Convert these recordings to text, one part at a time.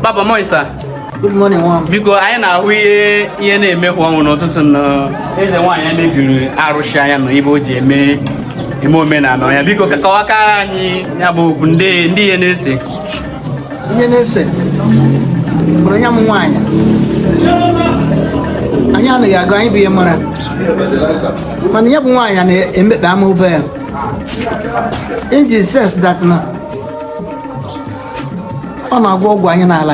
Baba morning sir. Good morning, nwa m. Biko anyị na-ahụ ihe ihe na-emekwanụ n'ụtụtụ na eze nwaanyị mebiri arụsị ya na ibe o ji eme eme omenala ya biko kọwakara anyị ya bụ okwu ndị ndị ihe na-ese ihe na-ese mụrụ ya bụ nwaanyị anyị anaghị agụ anyị bụ ihe mere mana ya bụ nwaanyị na-emekpa ama ụba ya in the sense that na ọ na-agwọ ọgwụ anyị na-ala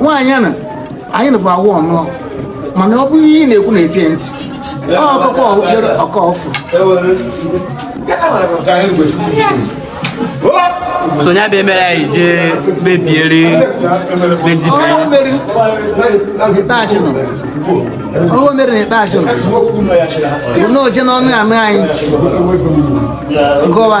nwaanyị a na anyị na bụ awụ ọnụọ mana ọ bụ ihe ị na-ekwu na epie ntị ọkụkọ obere ọkọ ọfụ sonye abịa mere anyị jee mebiere mezibiere ọrụ mere n'ikpeazụ nọ ọrụ mere n'ikpeazụ nọ bụ na oje n'ọnụ anụ anyị gụwa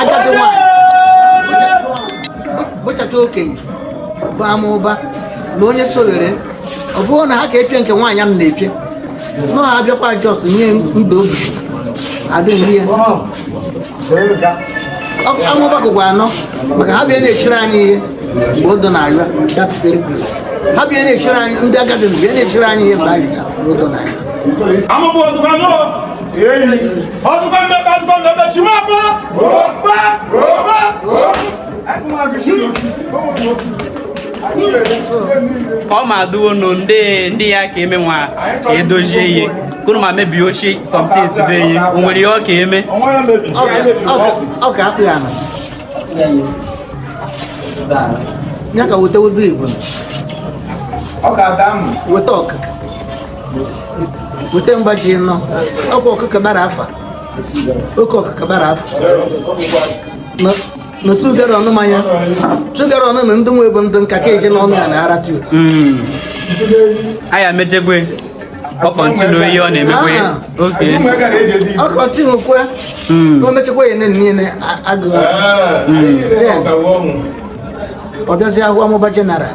agadi nwanyị bụchacha okenye bụ ama ụba na onye sowere ọ bụrụ na ha ka epie nke nwaanyị m na-epie nọ ha abịakwa just nye ndụ obi adịghị ihe ama ụba kụkwa anọ maka ha bịa na-echiri anyị ihe mgbe odo na-arịa dapụtere ha bịa na-echiri anyị ndị agadi bịa na-echiri anyị ihe mgbe anyị ga odo na-arịa ọdụkọ ndebe ọdụkọ ndebe chi ma bọ bọ bọ ọ ma adụwo nụ ndị ndị ya ka eme nwa ka edozie ihe kụrụ ma mebie ochie some things be ihe o nwere ihe ọ ka eme ọ ka akpụ ya na ya ka weta ọjị Igbo weta ọkụkọ weta mba ji anọ oke ọkụkọ gbara afọ oke ọkụkọ gbara afọ na two gallon manya two gallon na ndị nwe bụ ndị nka ka eje n'ọnụ ya na ara tuo hmm. aya mejegwe ọ continue ihe ọ na-emekwe ah. ọ continue kwe hmm. ka o mechekwa ya niile agụghị hmm. ọ bịazi ahụ ama ụba general